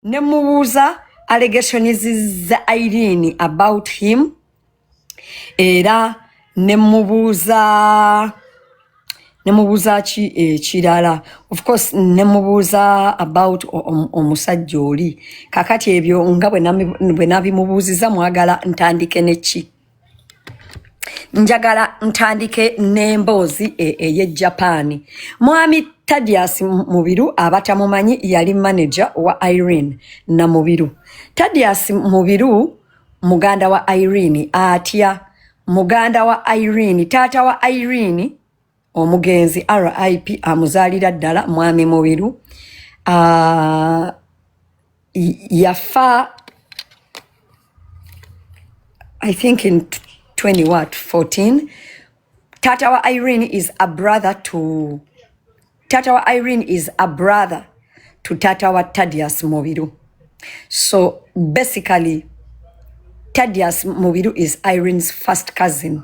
ne mubuuza allegations za irene about him era ne mubuuza ne mubuuza ki ekirala of course ne mubuuza about o- om- omusajja oli kakati ebyo nga bwe nami- bwe nabimubuuziza mwagala ntandike neki njagala ntandike n'emboozi e, eye japan mwami tadias mubiru abatamumanyi yali manaja wa irene na mubiru tadias mubiru muganda wa irene atya muganda wa irene taata wa irene omugenzi rip amuzaalira ddala mwami mubiru uh, yafa i think in 20 what 14 tata wa irene is a brother to tata wa irene is a brother to tata wa tadius mubiru so basically tadius mubiru is irene's first cousin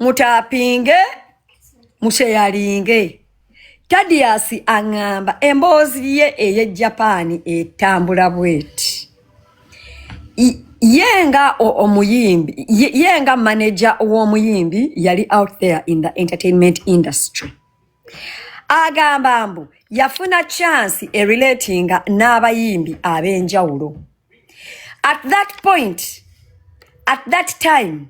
mutapinge musheyalinge tadias aŋŋamba emboozi ye ey'e japan etambula bweti ye nga omuyimbi ye nga manaja w'omuyimbi yali out there in the entertainment industry agamba mbu yafuna chansi erelatinga n'abayimbi ab'enjawulo at that point at that time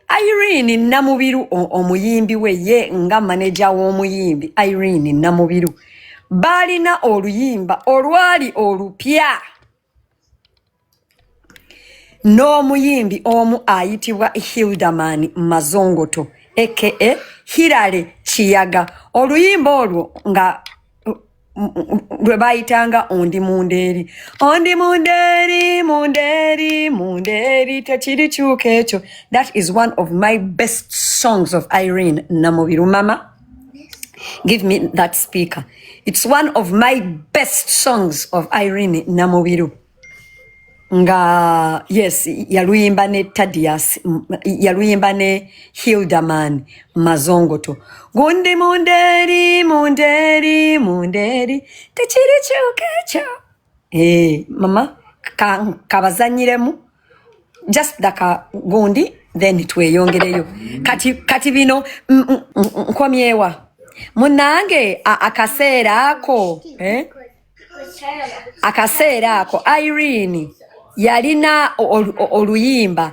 irene namubiru omuyimbi we ye nga maneja w'omuyimbi irene namubiru baalina oluyimba olwali olupya n'omuyimbi omu ayitibwa hildaman mazongoto aka hirale kiyaga oluyimba olwo nga lwe bayitanga ondi mundeeri ondi mundeeri mundeeri mundeeri tekirikyuka ekyo that is one of my best songs of irene namubiru mama Give me that speaker. It's one of my best songs of Irene Namubiru. Nga, yes, yaluyimba ne Tadias, yaluyimba ne Hildaman Mazongoto. Gundi munderi, munderi, munderi, techiri chukecho. Eh, mama ka- kabazanyiremu just daka gundi then tweyongereyo kati, kati bino mm, mm, mm, mm, nkomyewa munange a- akaseera ako eh? akaseera ako irene yalina ol- ol- oluyimba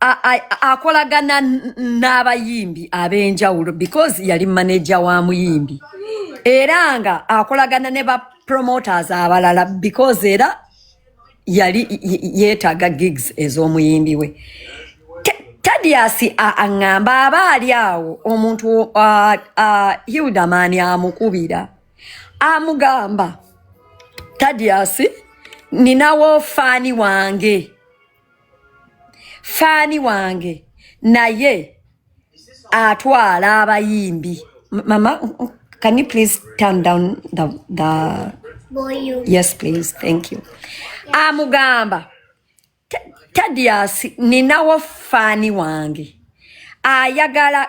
a- a- akolagana n- n'abayimbi ab'enjawulo because yali maneja wa muyimbi era nga akolagana ne ba promoters abalala because era yali y- y- yeetaaga gigs ez'omuyimbi we Te- tadius a- aŋŋamba aba ali awo omuntu a- a- hildaman amukubira amugamba tadius ninawo faani wange faani wange naye atwala abayimbi mama can you please turn down the, the... yes please thank you amugamba ah, Tadias ninawo faani wange ayagala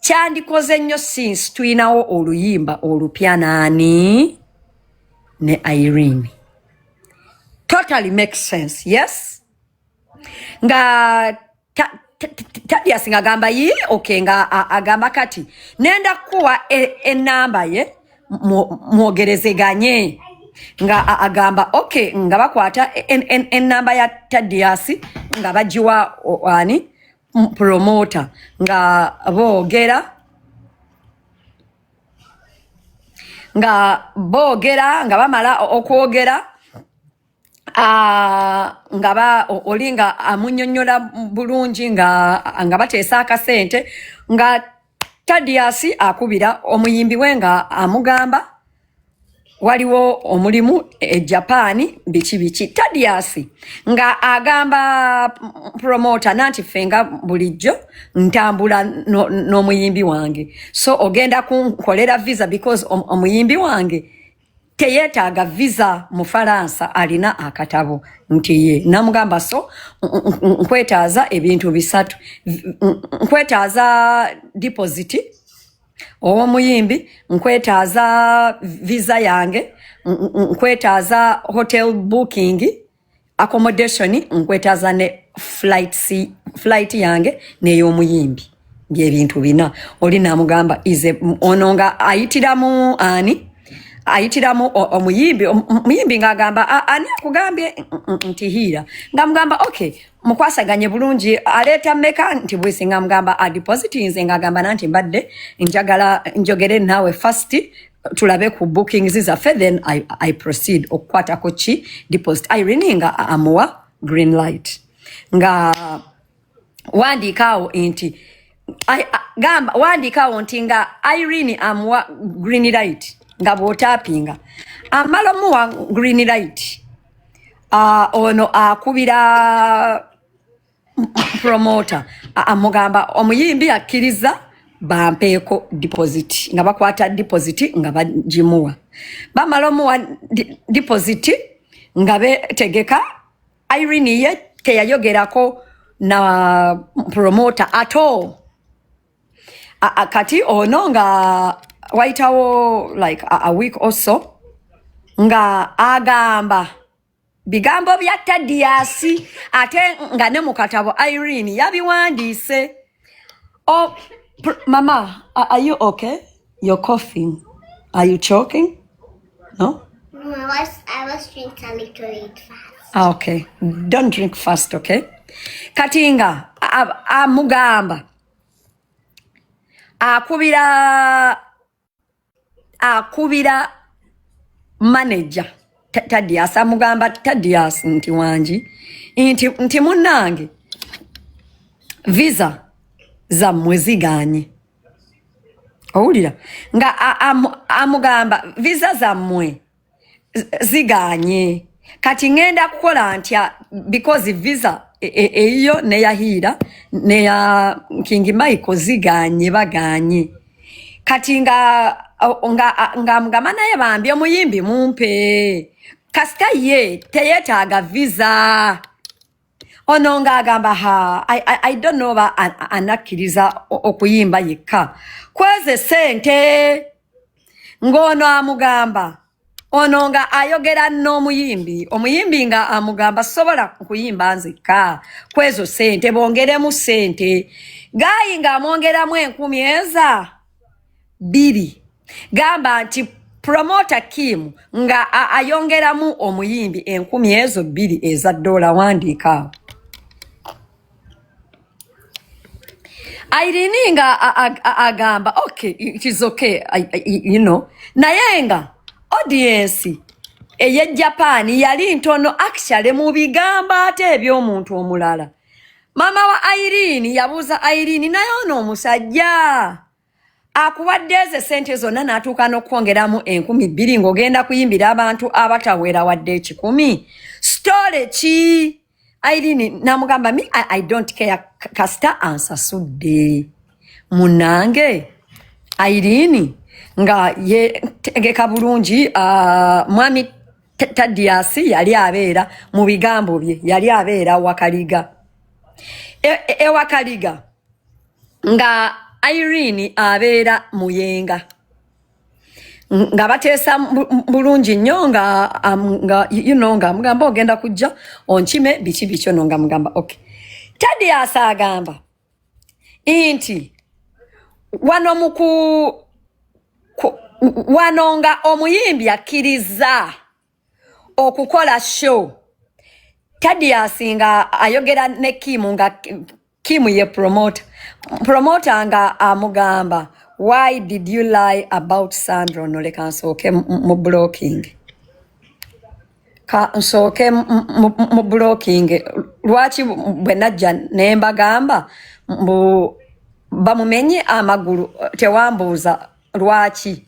kyandikoze nnyo since tulinawo oluyimba olupya naani ne irene totally make sense yes nga tadias nga agamba yi okay nga agamba kati nenda kuwa enamba e ye mwogerezeganye mo, nga agamba okay nga bakwata enamba ya tadiasi nga bagiwa ani promota nga boogera nga boogera nga bamala okwogera nga ba oli nga amunyonyola bulungi nga nga bateesa akasente nga tadiasi akubira omuyimbi we nga amugamba waliwo omulimu e japan biki biki tadias nga agamba promota nanti ffe nga bulijjo ntambula n'omuyimbi no, no wange so ogenda kunkolera visa because omuyimbi om, wange teyetaaga visa mu faransa alina akatabo nti ye namugamba so nkwetaaza ebintu bisatu nkwetaaza depositi ow'omuyimbi nkwetaaza visa yange nkwetaaza hotel booking accommodation nkwetaaza ne flight, flight yange ney'omuyimbi byebintu bina oli namugamba ize ono nga ayitiramu ani ayitiramu omuyimbi omuyimbi ng'agamba ani akugambye nti hiira nga mugamba okay mukwasaganye bulungi aleeta meka nti bwisi nga mugamba adepositinze nga agamba nanti mbadde njagala njogere naawe fast tulabe ku bookings zaffe then I, i proceed okukwatako ki deposit irene nga amuwa green light nga wandiikaawo nti gamba wandiikaawo nti nga irene amuwa green light nga bwotapinga amala omuwa green light Ah, ono akubira promoter amugamba omuyimbi akkiriza bampeeko deposit nga bakwata deposit nga bagimuwa bamala omuwa deposit nga betegeka irene ye teyayogerako na promoter at all A, a, kati ono nga wayitawo like a, a week or so nga agamba bigambo bya tadiyasi ate nga ne mu katabo irene yabiwandiise oh, pr- mama a- are you okay you're coughing are you choking no No, I was I was drinking a little bit fast. Ah, okay. Don't drink fast, okay? Kati nga a- a- amugamba akubira akubira manager tadias amugamba tadias nti wangi nti, nti munange visa zammwe ziganye owulira nga amugamba visa zammwe ziganye kati ngenda kukola ntya because visa e, e, eyiyo neyahiira neya king michael ziganye baganye kati nga nga nga mugamba naye bambi omuyimbi mumpe kasita ye teyetaaga visa ono nga agamba ha I, I, I don't know ba anakkiriza okuyimba yekka kweze sente ng'ono amugamba ono nga ayogera n'omuyimbi omuyimbi nga amugamba sobola kuyimba nzekka kwezo sente bongeremu sente gaayi ng'amwongeramu enkumi eza bbiri gamba nti promota kim nga ayongeramu omuyimbi enkumi ezo bbiri eza ddoola wandiika awo airini nga agamba okay it is okay I, I, you know naye nga audience eye japan yali ntono actually mu bigambo ate eby'omuntu omulala mama wa airini yabuuza airini naye ono omusajja akuwadde ezo esente zonna n'atuuka n'okukwongeramu enkumi bbiri ng'ogenda kuyimbira abantu abatawera wadde ekikumi sitole ki airini namugamba mi I, i don't care kasita ansasudde munange airini nga yetegeka bulungi uh, mwami tadiyasi yali abeera mu bigambo bye yali abeera wakaliga ewakaliga e, e, e nga Irene abeera muyenga nga bateesa bulungi nnyo nga nga you know nga mugamba ogenda kujja onkime biki biki ono nga mugamba okay Tadius agamba nti wano muku wano nga omuyimbi akkirizza okukola show Tadius nga ayogera ne Kim nga Kim ye promoter promoter nga amugamba why did you lie about Sandra no leka nsooke mu blocking ka nsooke mu blocking lwaki bwe najja ne mbagamba mbu bamumenye amagulu tewambuuza lwaki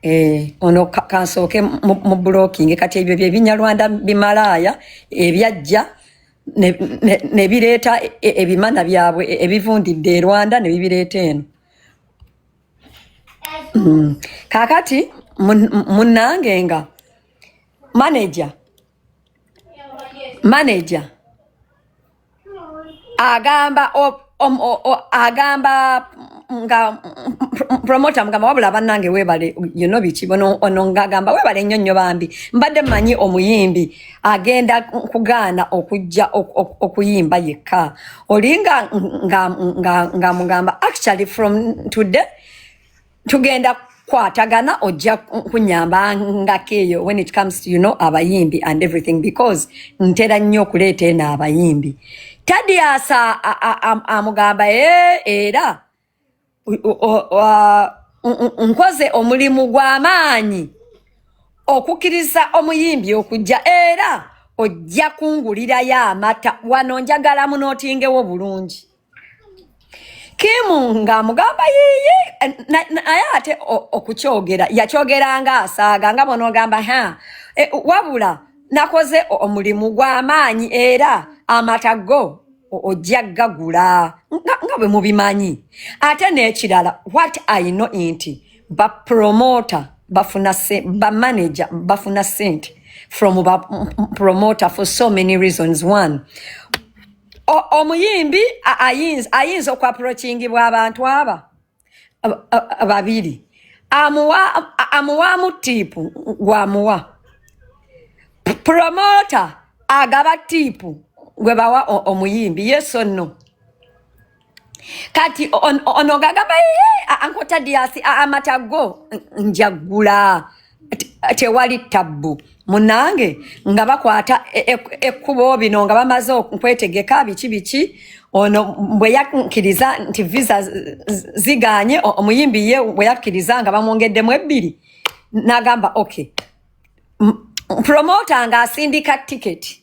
Eh, ono kansooke mu blocking kati ebyo byebinyarwanda bimalaaya ebyajja ne bireeta e, e, ebimana byabwe e, ebivundidde e Rwanda ne bibireeta eno mm. kakati munange nga manager manager agamba Om, o, o, agamba nga promoter mugamba wabula banange webale you know biki bono ono ngagamba webale nnyo nnyo bambi mbadde manyi omuyimbi agenda kugaana okujja ok- ok- okuyimba yekka olinga nga, nga, nga mugamba actually from today tugenda kwatagana ojja kunyamba ngako eyo when it comes to you know abayimbi and everything because ntera nnyo okuleeta eno abayimbi tadiasa amugamba e era nkoze omulimu gw'amaanyi okukkiriza omuyimbi okujja era ojja kungulirayo amata wano njagala munootingewo bulungi kimu nga mugamba yiyi naye ate okukyogera yakyogeranga asaaga nga bonogamba ha e, wabula nakoze omulimu gw'amaanyi era amata go ojja gagula nga bwe mubimanyi ate n'ekirala what i know nti bapromota bafuna bamanaja bafuna sente from bapromota for so many reasons one omuyimbi ayinza okwaprokingibwa abantu aba babiri amuwaamu tiipu gwamuwa promota agaba tiipu gwe bawa omuyimbi yeso nno kati on- ono gagamba "Yee, a- anko tadiyasi a- amata go n- njagula Te- tewali tabbu munange nga bakwata e- e- ekkubo bino nga bamaze okwetegeka biki biki ono bwe yakkiriza nti visa z- z- ziganye o- omuyimbi ye bwe yakkiriza nga bamwongeddemu ebbiri n'agamba okay promota ng'asindika tiketi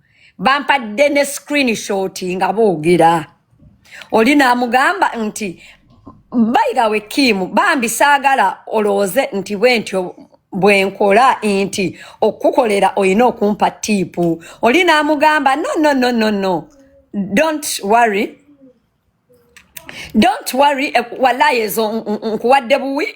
bampadde ne screenshot nga boogera oli naamugamba nti bayigawe kiimu bambi saagala olowooze nti bwe ntyo bwe nkola nti okukukolera olina okumpa tiipu oli naamugamba no no no no no don't worry don't worry eh, walayi ezo nkuwadde buwi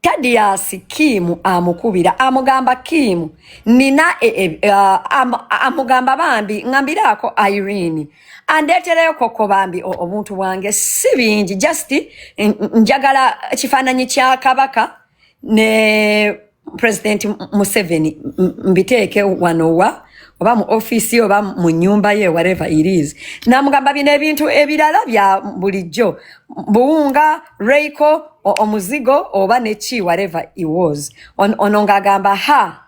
tadiyaasi kiimu amukubira amugamba kiimu nina e, e, amugamba bambi ngambiraako irene andeetereyo kokko bambi obuntu bwange si bingi just njagala kifaananyi kya kabaka ne president museveni mbiteeke wanowa oba mu offiisi oba mu nyumba ye whatever it is namugamba bino ebintu ebirala bya bulijjo buwunga reiko omuzigo oba neki whatever it was on, ono ng'agamba ha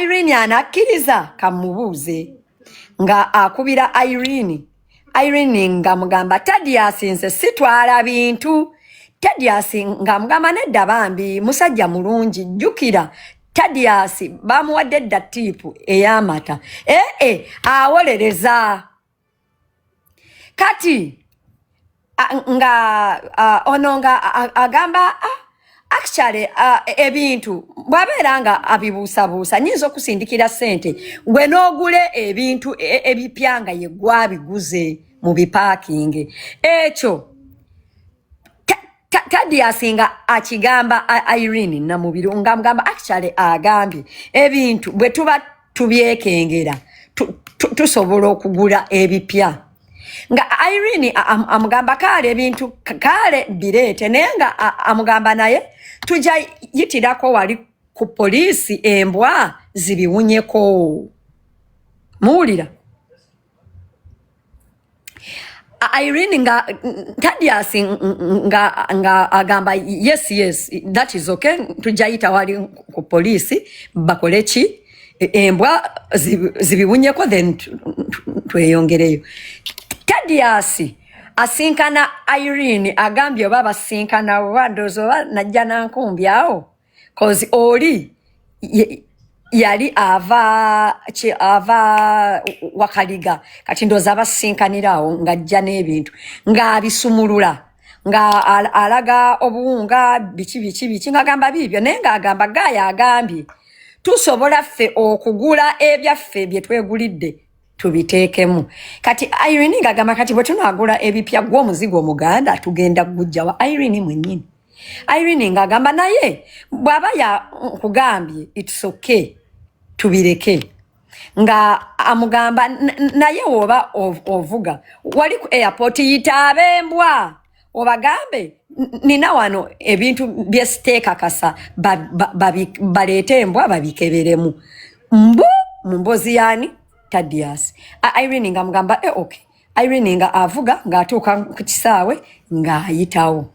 irene anakkiriza kamubuuze nga akubira irene Irene nga mugamba Tadius nze sitwala bintu Tadius nga mugamba nedda bambi musajja mulungi jjukira Tadius bamuwadde dda tiipu ey'amata ee eh, eh, awolereza kati a- nga a, ono nga a- a- agamba ah, actually ah, ebintu bwabeera nga abibuusabuusa nyinza okusindikira sente gwe n'ogula ebintu e- ebipya nga ye gwabiguze mu bipaakingi ekyo Ta- Ta- Tadius nga akigamba I- Irene Namubiru nga mugamba actually agambye ebintu bwe tuba tubyekengera tusobola okugula ebipya nga irene amugamba kaale ebintu kaale bireete naye nga amugamba naye tujja yitirako wali ku poliisi embwa zibiwunyeko muwulira Irene nga Tadius nga nga agamba yes yes that is okay tujayita wali ku police bakole ki e, embwa zibiwunyeko then tweyongereyo Tadius asinkana Irene agambye oba basinkana oba ndozo oba najja nankumbi awo cause oli ye- yali ava ki- ava wakaliga kati ndoozi abasinkanira awo ng'ajja n'ebintu ng'abisumulula nga al- alaga obuwunga biki biki biki ng'agamba biibyo naye ng'agamba gaaya agambye tusobola ffe okugula ebyaffe bye twegulidde tubiteekemu kati irene ng'agamba kati bwe tunaagula ebipya gw'omuzigo omuganda tugenda kugujjawa irene mwennyini Irene ng'agamba naye bw'aba yakugambye it's okay tubireke nga amugamba naye woba ovuga wali ku airport yitaabe embwa obagambe nina wano ebintu byesiteekakasa baleete embwa babikeberemu mbu mu mbozi yani tadias irene nga mugamba e eh, ok irene nga avuga ng'atuuka ku kisaawe ng'ayitawo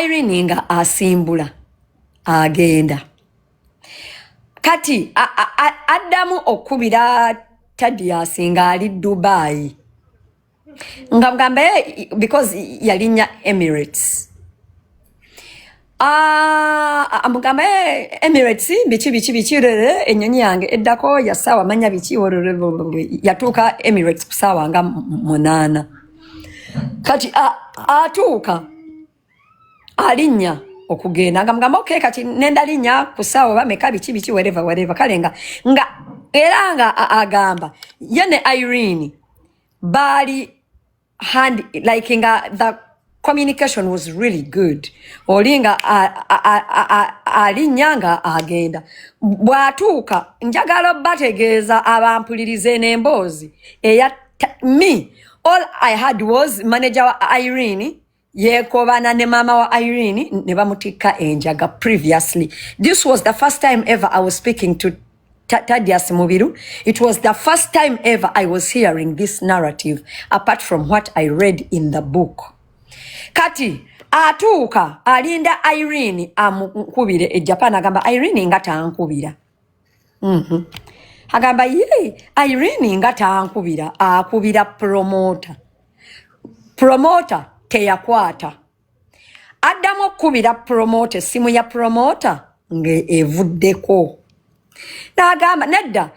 irene nga asimbula agenda kati addamu okukubira tadias nga ali dubai nga mugamba because yalinya emirates amugamba ah, ah, eh, emirates biki biki biki rere enyonyi yange eddako yasawa manya biki yatuuka emirates kusaawa nga munaana kati atuuka alinnya okugenda nga mugamba okay kati nenda linnya ku saawa oba meka biki biki wereva wereva kale nga nga era nga agamba ye ne irene baali hand like nga the communication was really good oli nga alinnya nga agenda bw'atuuka njagala bategeeza abampulirize n'emboozi eya me all i had was manager wa irene yekobana ne mama wa irene ne bamutikka enjaga previously this was the first time ever i was speaking to Tadias Mubiru, it was the first time ever I was hearing this narrative apart from what I read in the book. Kati, atuuka alinda Irene amukubire e Japan agamba Irene nga tankubira Mhm. agamba ye irene nga tankubira akubira promota promota teyakwata addamu okukubira promota essimu ya promota ngaevuddeko nagamba nedda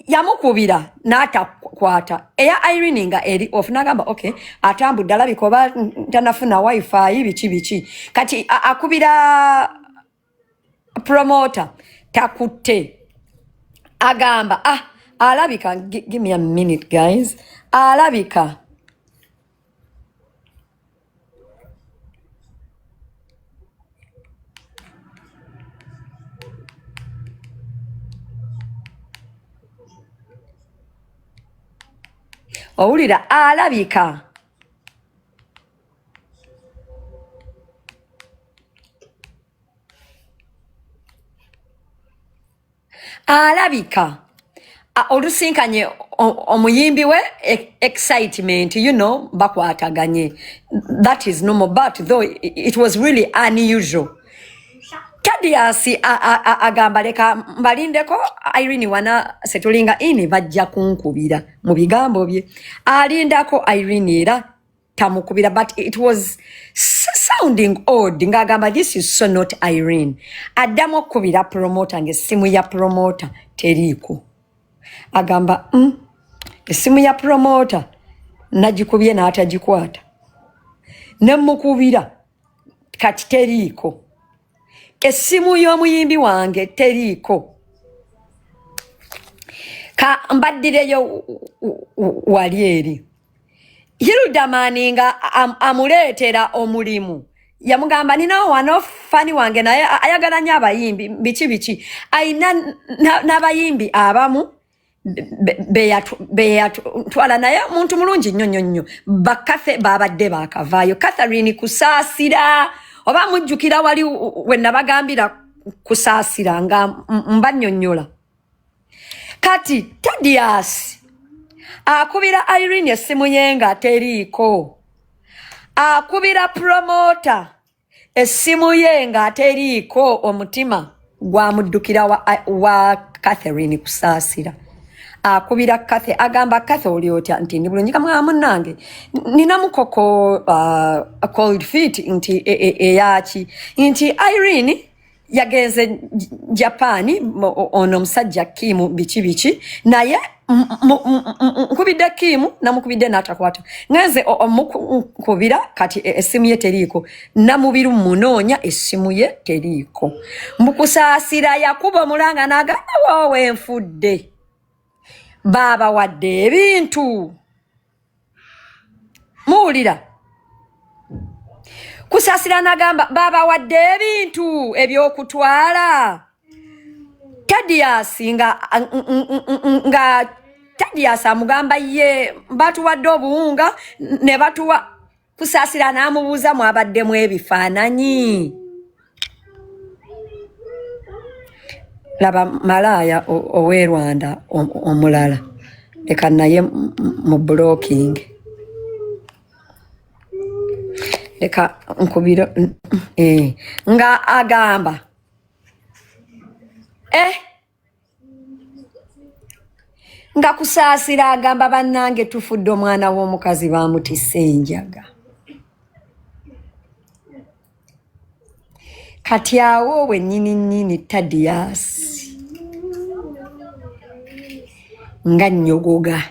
yamukubira ya natakwata eya irene nga eri of nagamba ok atambudde alabika oba ntanafuna wifi biki biki kati akubira promoter takutte agamba ah alabika give me a minute guys alabika owulira alabika alabika olusinkanye omuyimbi we e, excitement you know bakwataganye that is normal but though it was really unusual tadiasi agamba leka mbalindeko irene wana setulinga ini bajja kunkubira mu bigambo bye alindako irene era tamukubira but it was sounding odd ng'agamba this is so not irene addamu okukubira promota ng'essimu ya promota teriiko agamba mm, essimu ya promota nagikubye n'atagikwata nemukubira kati teriiko essimu y'omuyimbi wange teriiko ka mbaddireyo wali eri Hildamani nga am, amuleetera omulimu yamugamba ninawo wano fani wange naye ayagala nyo abayimbi biki biki ayina n'abayimbi abamu beyatwala naye omuntu mulungi nnyo nnyo nnyo bakathe babadde bakavaayo catherine kusaasira oba mujjukira wali wenabagambira kusaasira nga mbanyonyola kati tadias akubira irene essimu ye nga teriiko akubira promota essimu ye nga teriiko omutima gwamuddukira wa, wa catherine kusaasira akubira kathe agamba kathe oli otya nti ndi bulungi kamwa munange nina mukoko uh, cold feet nti eyaki e, e, nti irene yagenze japaani ono omusajja kiimu biki biki naye nkubidde kiimu namukubidde n'atakwata ngenze omukunkubira kati e, essimu ye teriiko namubiru munoonya essimu ye teriiko mbukusaasira yakuba omulanga n'agamba woowe nfudde baabawadde ebintu muwulira kusasira nagamba babawadde ebintu ebyokutwala tadiyasi nga nga tadiyasi amugamba ye batuwadde obuwunga ne batuwa kusaasira n'amubuuza mwabaddemu ebifaananyi laba malaaya ow'e rwanda omulala leka naye mu blocking leka nkubiro eh, nga agamba eh nga kusaasira agamba bannange tufudde omwana w'omukazi baamutisse enjaga kati awo wennyini nnyini tadiyaasi nga nnyogoga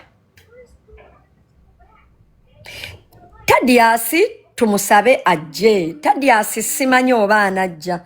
tadiyaasi tumusabe ajje tadiyaasi simanyi oba anajja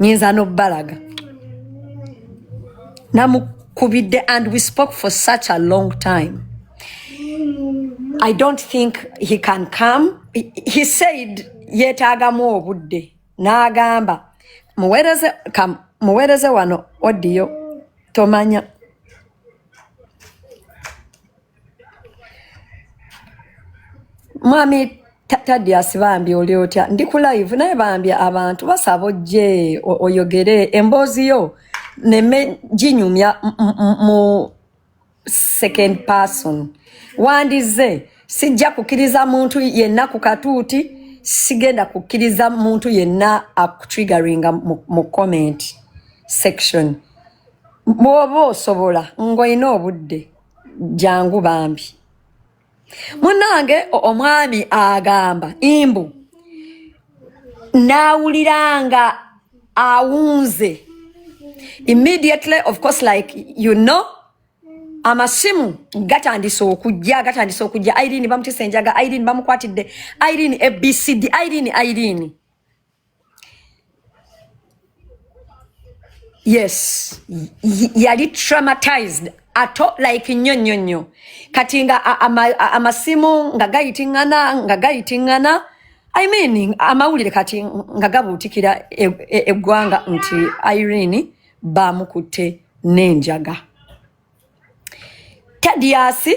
nyinza nobalaga namukubidde and we spoke for such a long time i don't think he can come he, he said yetaagamu obudde n'agamba muwereze kam muwereze wano odiyo tomanya mwami tadias bambi oli otya ndi ku live naye bambi abantu basaba ojje oyogere emboozi yo neme ginyumya mu second person wandize sijja kukkiriza muntu yenna ku katuuti sigenda kukkiriza muntu yenna akutriggeringa mu comment section bwoba osobola ng'olina obudde jangu bambi munange omwami agamba imbu nawuliranga awunze immediately of course like you know amasimu gatandise okujja gatandise okujja irene bamutisa enjaga irene bamukwatidde irene abcd irene irene yes yali traumatized ato like nnyo nnyo nnyo kati nga amasimu nga gayitingana nga gayitingana i mean amawulire kati nga gabuutikira e, e, eggwanga nti irene baamukutte n'enjaga tadiasi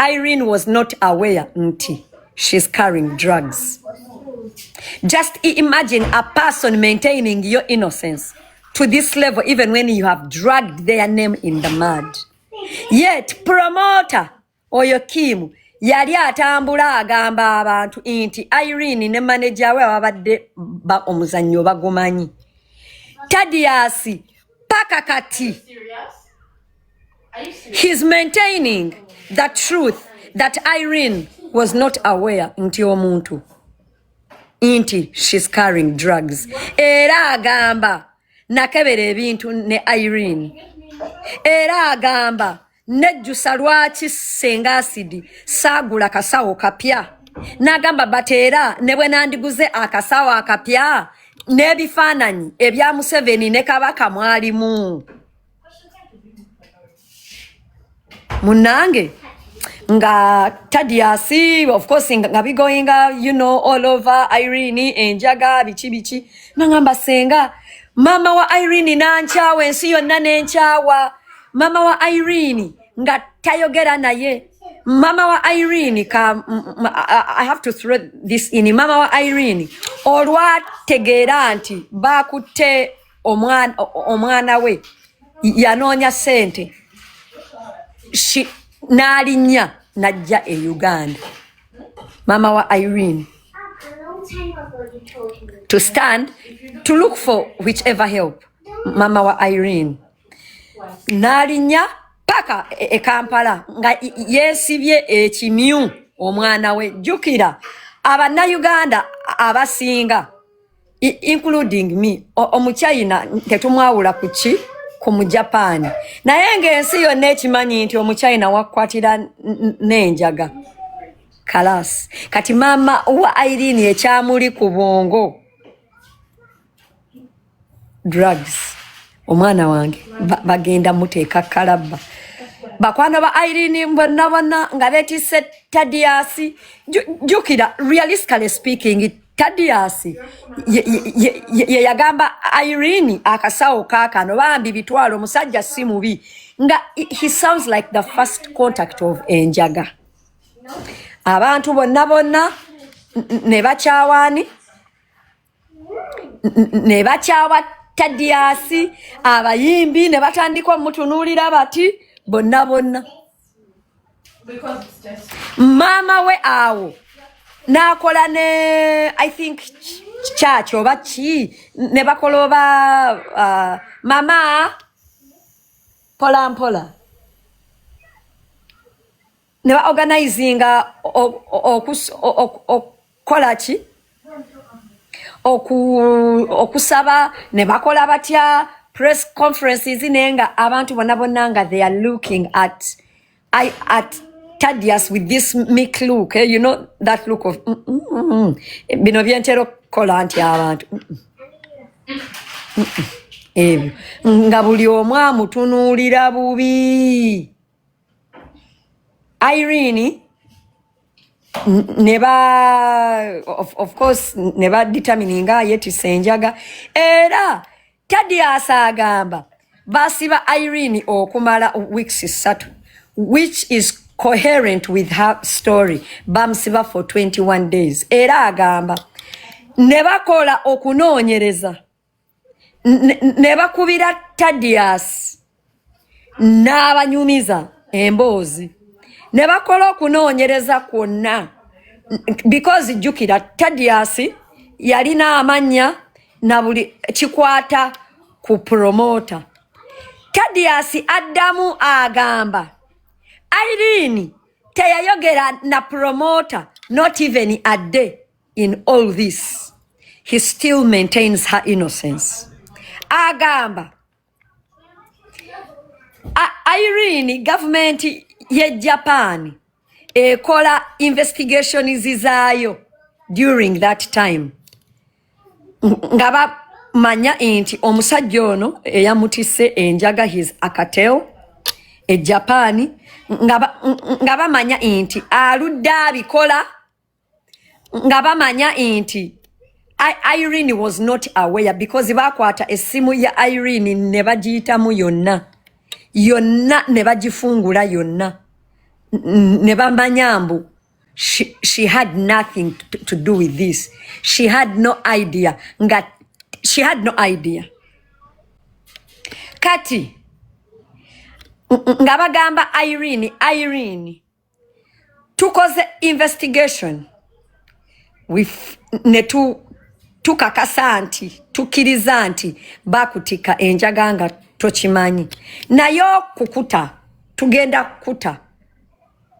Irene was not aware nti she's carrying drugs. Just imagine a person maintaining your innocence to this level even when you have dragged their name in the mud. Yet promoter oyo Kim yali atambula agamba abantu nti Irene ne manager we ababadde ba omuzannyo bagumanyi. Tadiasi paka kati. He's maintaining the truth that Irene was not aware nti omuntu nti she's carrying drugs era agamba nakebera ebintu ne Irene era agamba nejjusa lwaki senga asidi saagula kasawo kapya nagamba but era ne bwe nandiguze akasawo akapya n'ebifaananyi ebya museveni ne kabaka mwalimu munange nga tadiasi of course nga bigoinga you know all over irene enjaga biki biki nangamba senga mama wa irene nankyawa ensi yonna nenkyawa mama wa irene nga tayogera naye mama wa irene ka i have to throw this in mama wa irene olwategeera nti bakutte omwana omwana we yanoonya sente n'alinnya n'ajja e uganda maama wa irene to stand to look for whichever help maama wa irene n'alinnya paka e, e kampala nga yeesibye ekimyu omwana we jjukira abannayuganda abasinga including me omuchina tetumwawula kuki ku mujapani naye ngaensi yonna ekimanyi nti omuchina wakwatira nenjaga kalas kati maama wa airini ekyamuli ku bwongo drugs omwana wange bagenda muteeka kalabba bakwano ba irene mbonabona nga betise tadiasi jukira realistically speaking Tadiyasi ye yagamba Irene akasawo kakano bambi bitwalo omusajja si mubi nga he sounds like the first contact of enjaga abantu bonna bonna ne bakyawaani ne bakyawa Tadiyasi abayimbi ne batandika omutunuulira bati bonna bonna maama we awo n'akola ne i think kyaki oba ki ne bakola oba uh, mama mpola mpola ne baorganizinga kola ki okusaba ne bakola batya press conferences naye nga abantu bona bona nga they are looking at I, at tadius with this mic look eh? you know that look of mm, mm, mm, mm. bino byentera okukola nti abantu mm, mm. mm, mm. ebyo nga buli omu amutunuulira bubi Irene ne ba of, of course ne ba determininga yetise enjaga era Tadius agamba basiba Irene okumala weeks satu which is coherent with her story bamusiba for 21 days era agamba ne bakola okunoonyereza ne bakubira tadias n'abanyumiza emboozi ne bakola okunoonyereza kwonna because jjukira tadias yalina amannya na buli kikwata ku promota tadias addamu agamba irene teyayogera na promota not even a day in all this he still maintains her innocence agamba Irene government ye Japan ekola investigations zaayo during that time nga bamanya nti omusajja ono eyamutise enjaga his akatel e Japan nga bamanya nti aludde abikola nga bamanya nti Irene was not aware because bakwata esimu ya Irene ne bagiyitamu yonna yonna ne bagifungula yonna ne bamanya mbu she, she had nothing to, to do with this she had no idea nga she had no idea kati nga bagamba Irene Irene tukoze investigation ne tukakasa nti tukkiriza nti bakutikka enjaga nga tokimanyi naye okukuta tugenda kukuta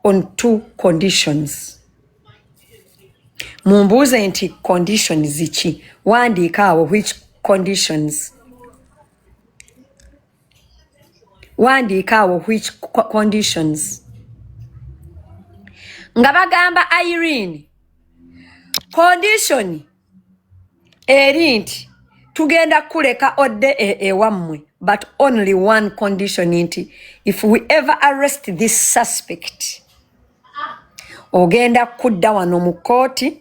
on two conditions mumbuuze nti conditions ki wandiika awo which conditions wandiika awo which conditions nga bagamba irene condition eri nti tugenda kuleka odde e, ewammwe e but only one condition nti if we ever arrest this suspect ogenda kudda wano mu kooti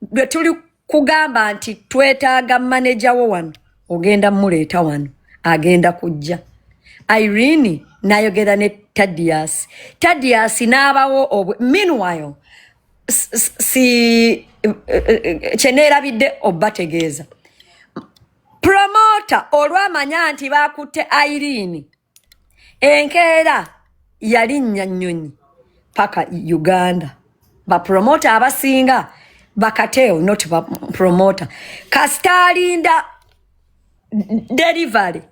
bwe tuli kugamba nti twetaaga maneja wo wano ogenda muleeta wano agenda kujja irene nayogera ne tadias tadias n'abawo meanwhile si eh, eh, eh, kyeneerabidde obategeeza promota olwamanya nti bakutte irene enkeera yalinnya nnyonyi paka uganda bapromota abasinga bakateo not bapromota kasita alinda delivery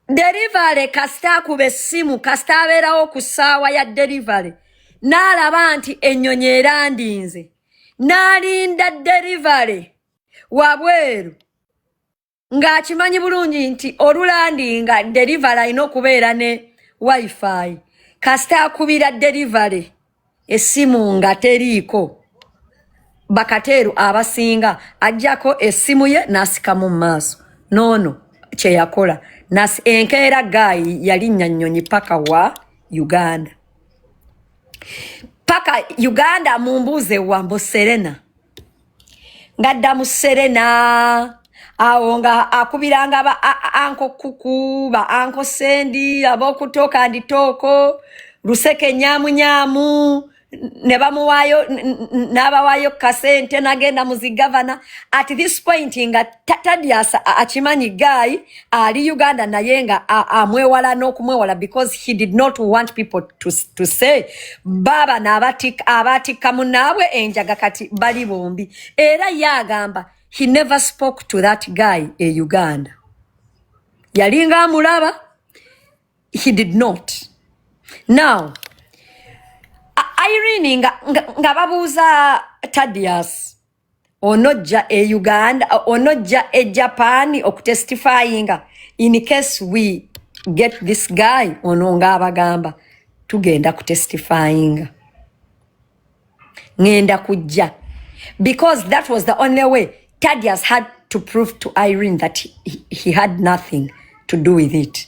delivery kasita akuba essimu kasita abeerawo ku ssaawa ya delivery n'alaba nti ennyonyi erandinze n'alinda delivery wabweru ng'akimanyi bulungi nti olulandinga delivery alina okubeera ne wifi kasita akubira delivery essimu nga teriiko bakateeru abasinga ajjako essimu ye n'asikamu mu maaso noono kye yakola enkeera gaayi yalinnya nnyonyi paka wa uganda paka uganda mumbuuze wambo serena ngadda mu serena awo nga akubiranga ba anko kuku ba anko sendi ab'okutooka anditooko luseke nyamunyamu ne bamuwaayo n'abawaayo kasente nagenda mu zigavana at this point nga tadyasa akimanyi gaayi ali uganda naye nga amwewala n'okumwewala because he did not want people to, to say baaba abaatikka munaabwe enjaga kati bali bombi era ye agamba he never spoke to that guy e uganda yalinga amulaba he did not now irene nga, nga, nga babuuza tadius onojja e uganda onojja e japan okutestifyinga in case we get this guy ono ngaabagamba tugenda kutestifyinga ngenda kujja because that was the only way tadias had to prove to irene that he, he had nothing to do with it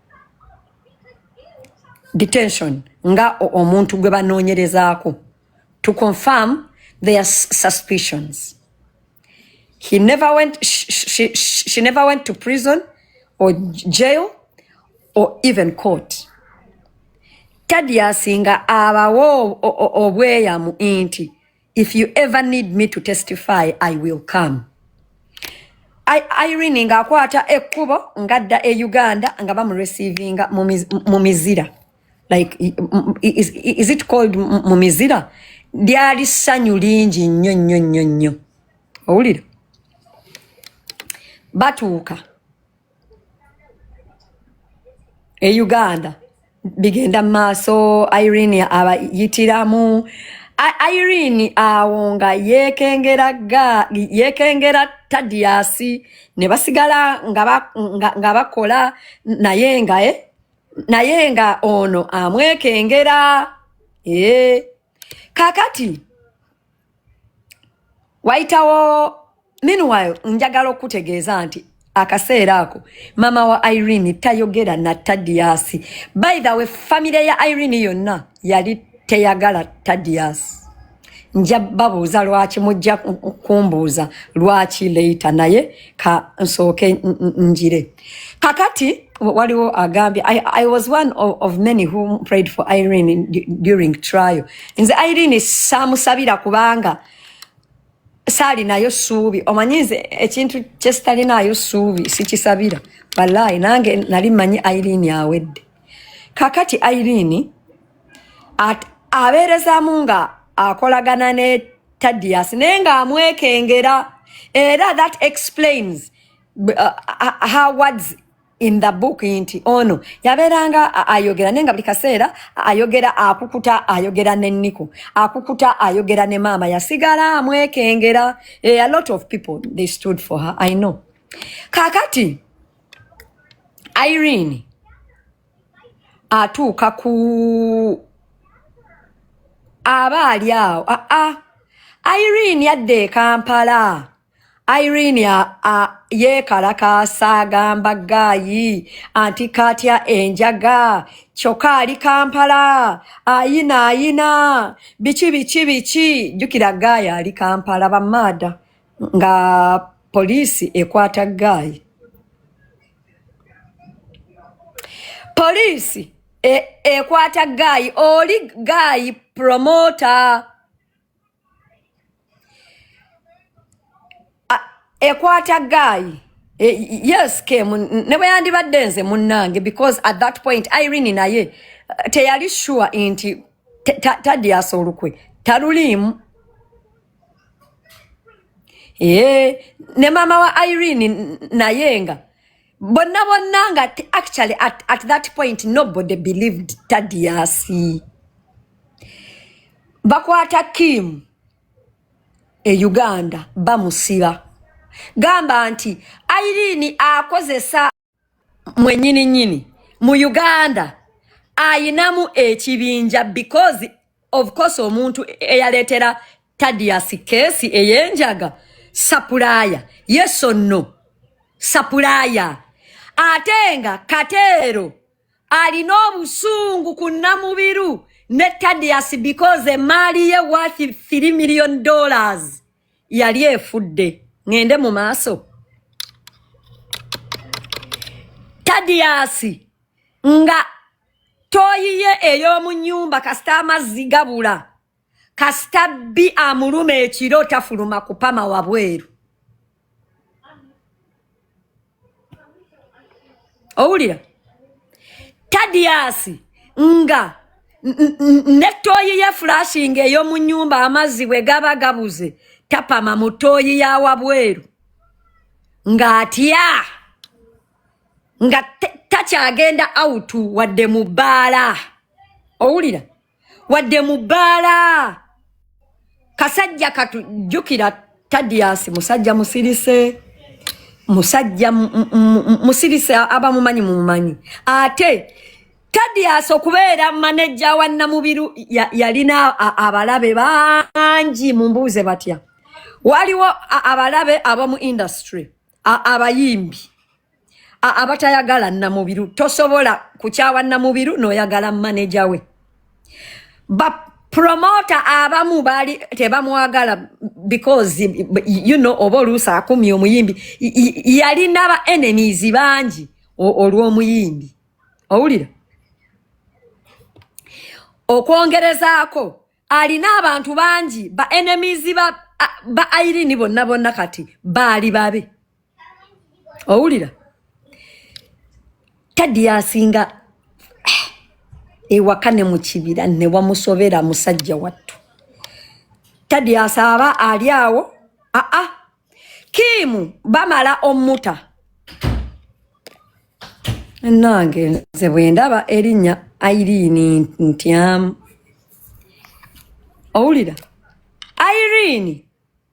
detention nga omuntu gwe banoonyerezaako to confirm their suspicions he never went, she, she, she never went to prison or jail or even court tadiasi nga abawo obweyamu inti If you ever need me to testify, I will come. I, Irene nga akwata ekkubo ngadda e Uganda nga bamurecevinga mu mizira like is, is it called mu mizira lyali ssanyu lingi nnyo nnyo nnyo nnyo owulira batuuka e uganda bigenda mu maaso irene abayitiramu I- irene awo nga yekengera ga yekengera tadiyasi ne basigala nga ba- nga- nga bakola naye nga eh? naye nga ono amwekengera eh. kakati wayitawo meanwhile njagala okutegeeza nti akaseera ako mama wa irene tayogera na tadiasi by the way famire ya irene yonna yali teyagala tadiasi nja babuuza lwaki mujja kumbuuza lwaki leita naye ka nsooke njire kakati waliwo agambye I, i was one of, of many who prayed for irene in, during trial nze irene samusabira kubanga saalinayo suubi omanyi nze ekintu kyesitalinaayo suubi sikisabira walayi nange nali manyi irene awedde kakati irene abeerezamu nga akolagana ne tadias naye nga amwekengera era that explains uh, uh, her words in the book nti ono yabeeranga ayogera naye nga buli kaseera ayogera akukuta ayogera ne niko akukuta ayogera ne maama yasigala amwekengera eh, a lot of people they stood for her i know kakati irene atuuka ku aba ali awo aa ah, ah. irene yadda e kampala irene yeekalakaasa agamba gaayi anti katya enjaga kyokka ali kampala ayina ayina biki biki biki jjukira gaayi ali kampala bamaada nga poliisi ekwata gaayi poliisi e, ekwata e gaayi oli gaayi promota ekwata gaayi e, yes kemu ne bwe yandibadde nze munnange because at that point irene naye teyali sure nti tadyaasa olukwe taluliimu Eee, ne maama wa irene n- naye nga bonna bonna nga t- actually at, at that point nobody believed tadiasi bakwata kim e uganda bamusiba gamba nti irene akozesa mwenyini nyini mu uganda ayinamu ekibinja because of course omuntu eyaletera tadias kesi eyenjaga sapulaya yeso no sapulaya ate nga kateero alina obusungu ku namubiru ne tadias because emaali ye worth 3 million dollars yali efudde ngende mu maaso tadiyasi nga toyiye ey'omu nyumba kasita amazzi gabula kasita bbi amuluma ekiro tafuluma kupama wabweru owulira tadiyasi nga ne tooyi ye fulashinga ey'omu nnyumba amazzi bwe gaba gabuze tapama mu tooyi ya wabweru ng'atya nga takyagenda awutu wadde mu bbaala owulira wadde mu bbaala kasajja katu jjukira tadiasi musajja musirise musajja musirise abamumanyi mumumanyi ate tadiasi okubeera manejja wa namubiru yalina abalabe bangi mumbuuze batya waliwo abalabe abamu industry abayimbi abatayagala namubiru tosobola kukyawa namubiru noyagala maneja we bapromota abamu bali tebamwagala because you know oba oluusi akumya omuyimbi yalina ba enemies bangi olw'omuyimbi owulira okwongerezaako alina abantu bangi ba enemies ba ba airini bonna bonna kati baali babe owulira tadi yasinga ewaka ne mu kibira ne wamusobera musajja wattu tadi asaaba ali awo aa ah, ah. kiimu bamala omuta nange nze bwendaba erinnya airiini ntyamu owulira airiini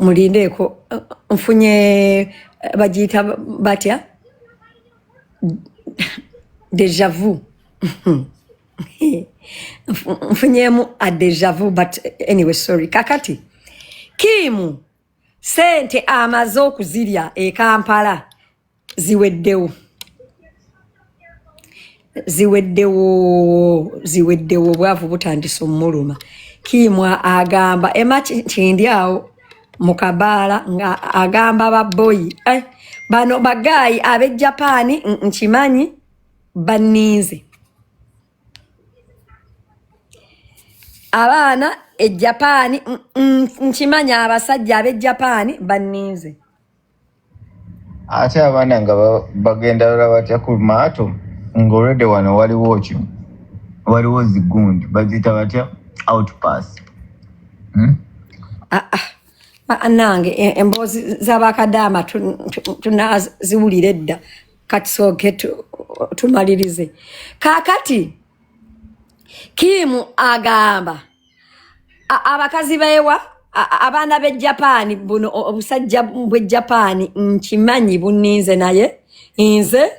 mulindeeko nfunye bagiyita batya deja vu nfunyemu a deja vu but anyway sorry kakati kiimu sente amaze okuzirya e kampala ziweddewo ziweddewo ziweddewo obwavu butandise omuluma kiimwa agamba ema kindi awo mu kabaala nga agamba baboyi eh, bano bagaayi ab'e japaani nkimanyi banninze abaana e japaani nkimanyi abasajja ab'e japaani banninze ate abaana nga bagenda lala batya ku maato ngaolwedde wano waliwo kyo waliwo zigundi baziyita batya outpass hmm? ah, ah. ah, nange e, emboozi zabakadaama tunaziwulira edda kati soke tumalirize kakati kiimu agamba abakazi bewa abaana be japaani buno obusajja bwe japaani nkimanyi buninze naye nze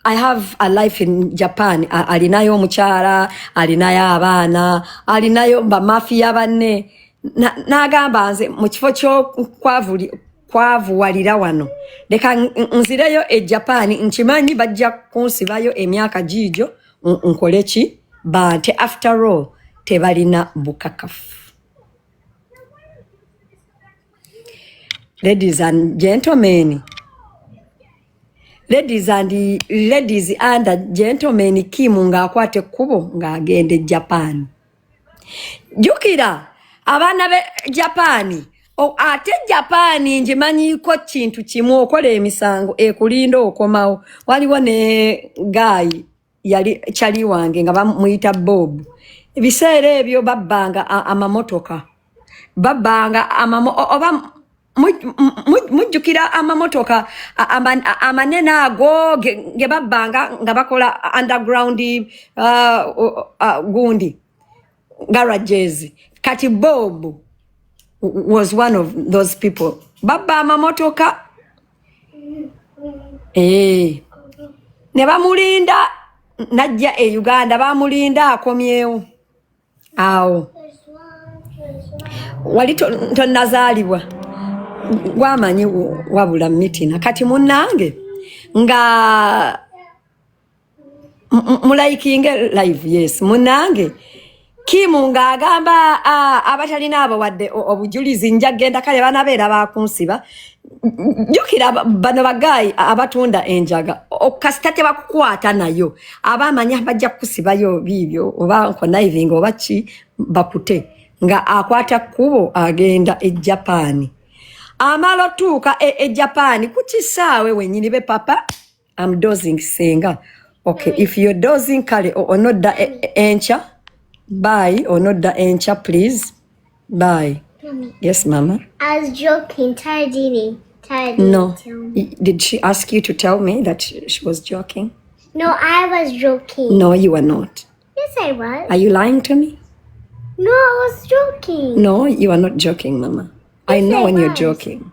i have a life in japan alinayo omukyala alinayo abaana alinayo bamafiya banne nagamba nze mu kifo kyokuwavuwalira wano leka nzireyo e japaani nkimanyi bajja kunsibayo emyaka giigyo nkole ki bante after all tebalina bukakafu ladies and gentlemen ladies and ladies and gentlemen kim ng'akwata ekkubo ng'agenda e japan jukira abaana be japaani ate japaani ngimanyiko kintu kimu okola emisango ekulinda okomawo waliwo ne gaayi yali kyali wange nga bamuyita bob ebiseera ebyo babbanga amamotoka babbanga oba mujjukira amamotoka amanene ago ge babbanga nga bakola underground uh, uh, uh, gundi garages kati bob was one of those people babba amamotoka eh. ne bamulinda najja e uganda bamulinda akomyewo awo wali tonazaalibwa gwamanyi wabula mitina kati munange nga mulayikinge live yes munange kimu ng'agamba abatalina abo wadde obujulizi nja kugenda kale banabeera bakunsiba jukira bano bagayi abatunda enjaga kasita tebakukwata nayo aba amanya bajja kukusibayo biibyo oba nkonaivinga oba ki bakute nga akwata kkubo agenda e japani amala otuuka e, e japani ku kisaawe wenyini be papa am dozing senga okay if you're dozing kale onodda e, e, enkya bye onodda enkya please bye yes mama I was joking tayadini tayadini no did she ask you to tell me that she was joking no I was joking no you are not yes I was are you lying to me no I was joking no you are not joking mama yes, I know I when was. you're joking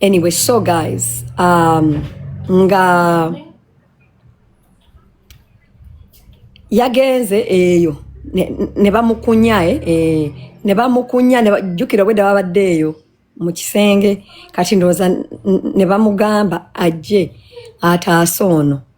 anyway so guys um, nga yagenze eyo ne bamukunya eh, eh, ne bamukunya jjukira obwedda babadde eyo mu kisenge kati ndowooza ne bamugamba ajje ataase ono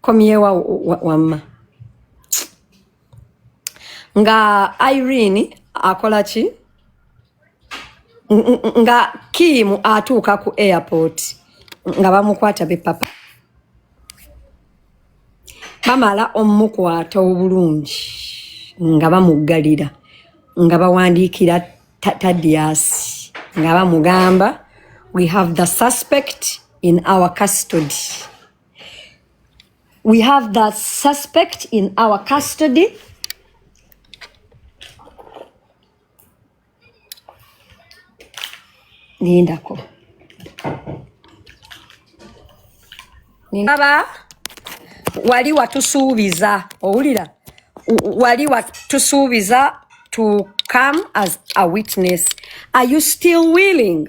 komyewa wamma nga irene akola ki nga kiimu atuuka ku airport nga bamukwata bepapa bamala omukwata obulungi nga bamuggalira nga bawandiikira tadiasi nga bamugamba we have the suspect in our custody We have the suspect in our custody. Nindako. Nindaba wali watusuubiza owulira wali watusuubiza to come as a witness are you still willing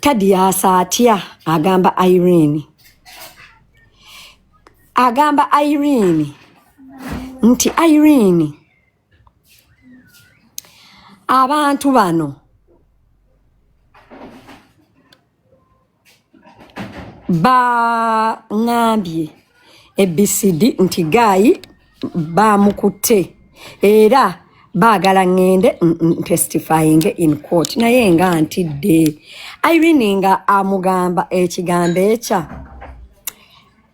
tadiyasa atya agamba irene agamba irene nti irene abantu bano baŋambye abcd nti gaayi baamukutte era baagala ŋŋende ntestifying in court naye nga ntidde irene nga amugamba ekigambo ekya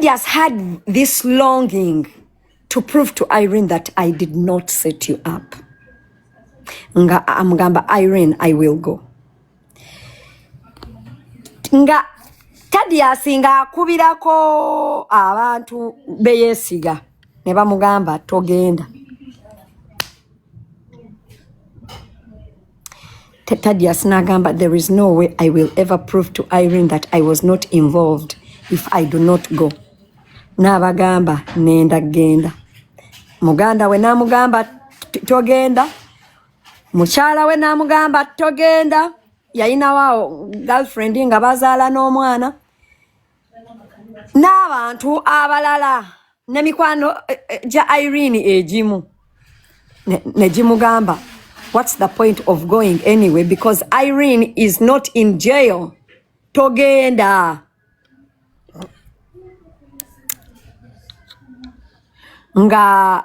Teddy has had this longing to prove to Irene that I did not set you up. Nga amgamba ah, Irene, I will go. Nga Teddy asinga akubirako abantu beyesiga ne bamugamba togenda. Tadius n'agamba there is no way I will ever prove to Irene that I was not involved if I do not go n'abagamba nenda genda muganda we n'amugamba togenda mukyala we n'amugamba togenda yayinawo girlfriend nga bazaala n'omwana n'abantu abalala ne mikwano eh, eh, gya irene egimu ne gimugamba what's the point of going anyway because irene is not in jail togenda nga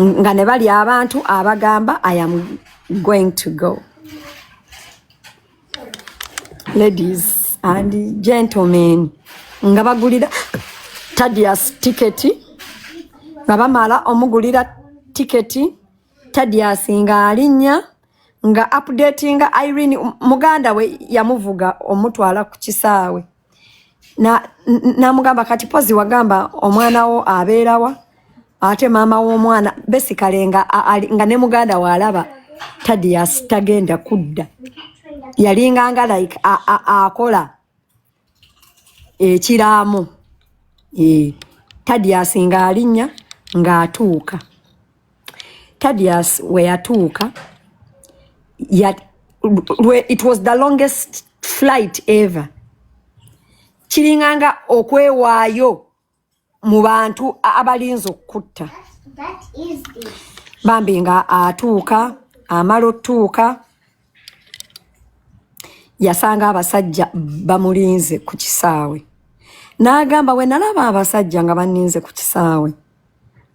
nga ne bali abantu abagamba i am going to go ladies and gentlemen nga bagulira tadias tiketi nga bamala omugulira tiketi tadias nga alinya nga updatinga irene muganda we yamuvuga omutwala ku kisaawe namugamba na kati pozi wagamba omwana wo abeerawa ate maama w'omwana besikale nga, nga ne muganda waalaba tadias tagenda kudda yalinganga like akola ekiraamo e, tadias ng'alinnya ng'atuuka Tadius we yatuuka ya, it was the longest flight ever kiringanga okwewaayo mu bantu abalinza okukutta bambi nga atuuka amala otuuka yasanga abasajja bamulinze ku kisaawe n'agamba we nalaba abasajja nga baninze ku kisaawe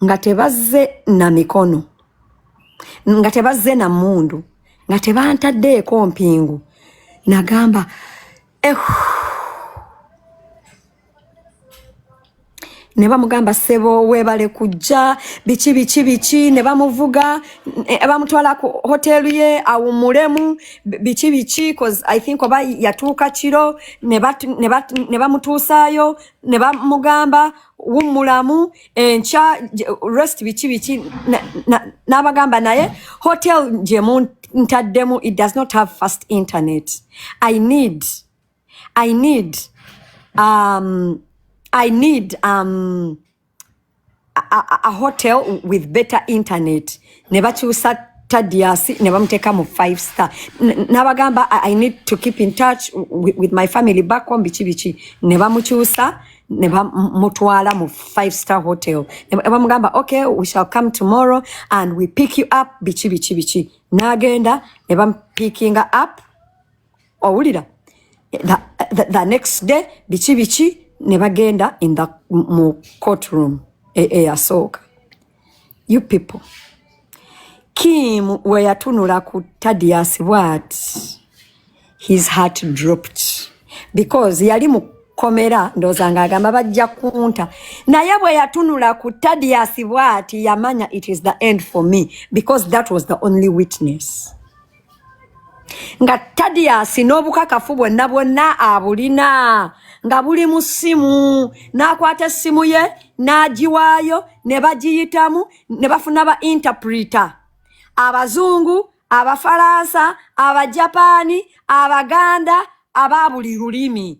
nga tebazze na mikono nga tebazze na mmundu nga tebantaddeeko mpingu nagamba eh, ne bamugamba sebo webale kujja biki biki biki ne bamuvuga eh, bamutwala ku hotelu ye awumulemu biki biki cause i think oba yatuuka kiro ne bamutuusaayo ne bamugamba wummulamu enkya rest biki biki n'abagamba naye hotel gye muntaddemu it does not have fast internet i need I need um, I need um, a, a, a hotel with better internet ne bakyusa tadiasi ne bamuteka mu five star nabagamba I, I need to keep in touch with, with my family back home biki biki ne bamukyusa ne bamutwala mu five star hotel ne bamugamba okay we shall come tomorrow and we pick you up biki biki biki nagenda ne bampikinga up owulira the, the, the next day biki biki ne bagenda in the mu courtroom eyasooka e, you people kim weyatunula ku tadias bwat his heart dropped because yali mu komera ndowooza nga agamba bajja kunta naye bwe yatunula ku tadias bwati yamanya it is the end for me because that was the only witness nga tadiyasi n'obukakafu bwonna bwonna abulina nga buli mu ssimu n'akwata essimu ye n'agiwaayo ne bagiyitamu ne bafuna ba interpreter abazungu abafalansa abajapaani abaganda aba buli lulimi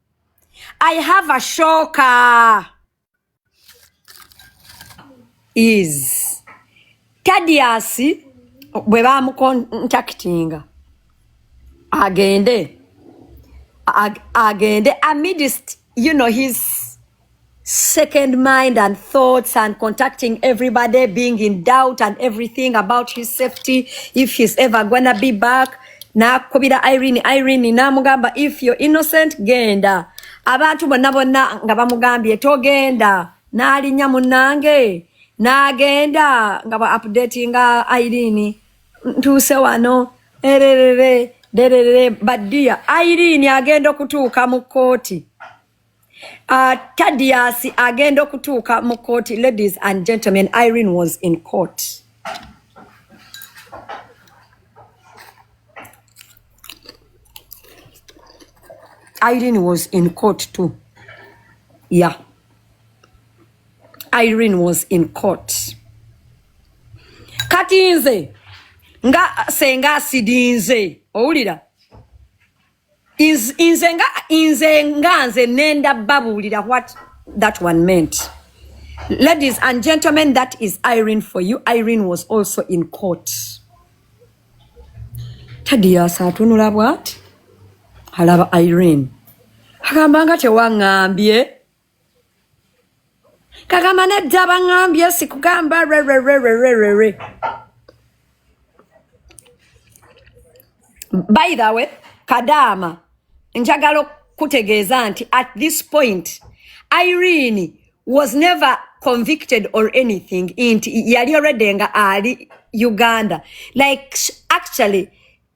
I have a shocker is Tadius bwe bamukontaktinga agende agende amidst you know his second mind and thoughts and contacting everybody being in doubt and everything about his safety if he's ever gonna be back nakubira irene irene namugamba if you're innocent genda abantu bonna bonna nga bamugambye togenda n'alinya munange n'agenda nga ba updatinga irene ntuuse wano ererere dererere badiya irene agenda okutuuka mu kkooti Uh, Tadius agenda okutuuka mu kkooti. Ladies and gentlemen, Irene was in court. Irene was in court too. Yeah. Irene was in court. Kati nze nga senga asidinze owulira nze nga nze nga nze nenda babuulira what that one meant ladies and gentlemen that is irene for you irene was also in court tadiyasa atunula bwati alaba irene agamba nga tewaŋambye kagamba nedda baŋambye sikugamba rererererere by the way kadaama njagala okukutegeeza nti at this point irene was never convicted or anything nti yali already nga ali uganda like actually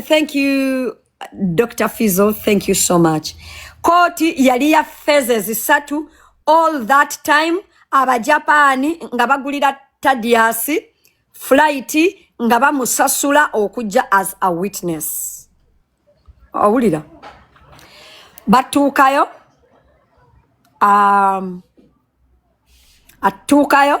Thank you Dr. Fizo, thank you so much. Koti yali ya phases satu all that time abajapani nga bagulira Tadias flight nga bamusasula okujja as a witness. Awulira. Batuukayo um, atuukayo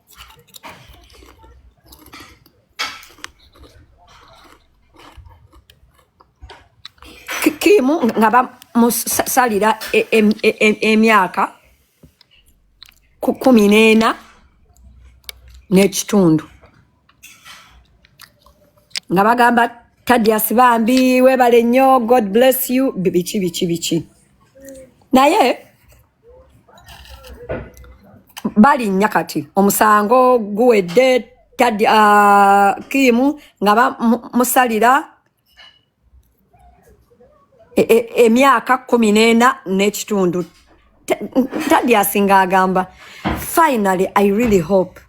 kimu nga bamusalira e, e, e, emyaka kumi n'ena n'ekitundu nga bagamba tadias bambi webale nnyo god bless you biki biki biki naye balinnya kati omusango guwedde tadi uh, kiimu nga bamusalira e, e, emyaka e, e, kumi n'ena n'ekitundu tadi asinga agamba finally i really hope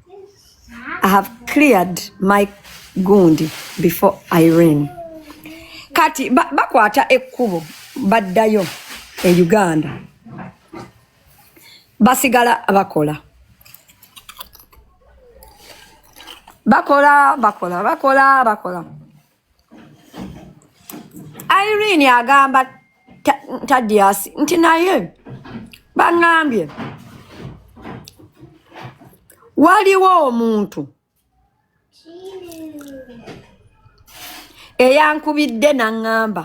I have cleared my gundi before Irene. Kati bakwata ba ekkubo baddayo e Uganda basigala bakola bakola bakola bakola bakola Irene agamba Tadiasi nti naye baŋambye waliwo omuntu eyankubidde naŋŋamba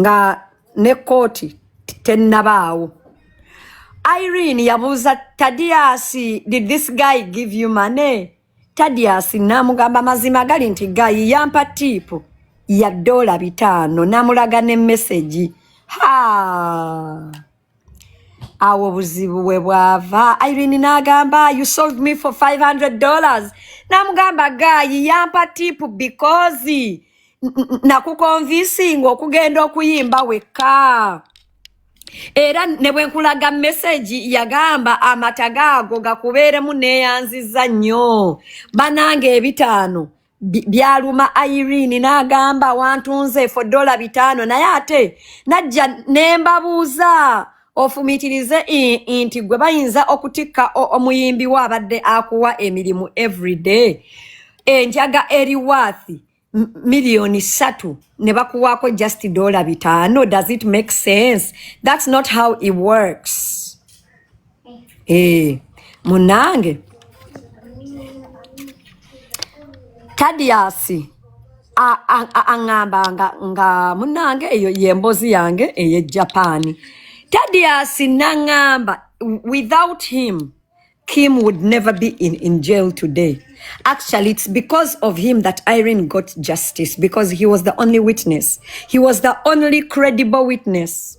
nga ne kkooti tennabaawo irene yabuuza tadiasi did this guy give you money tadiasi namugamba mazima gali nti gayi yampa tiipu ya dola bitaano namulaga ne mesegi ha awo buzibu we bwava irene n'agamba you sold me for 500 dollars namugamba gaayi yampa tipu because nakukonvisinga okugenda okuyimba wekka era ne bwe nkulaga mesegi yagamba amata gaago gakubeeremu neeyanziza nnyo bananga ebitaano Bi- byaluma irene n'agamba wantunze for dola bitaano naye ate najja ne mbabuuza ofumiitirize i- i- nti gwe bayinza okutikka o- omuyimbi wo abadde akuwa emirimu everyday enjaga eri waathi m- miliyoni ssatu ne bakuwaako just dola bitaano does it make sense that's not how it works Eh, munange Tadiasi aŋŋamba nga, nga munange eyo yembozi yange eye Japan. Tadiasi naŋŋamba without him Kim would never be in, in jail today. Actually, it's because of him that Irene got justice because he was the only witness. He was the only credible witness.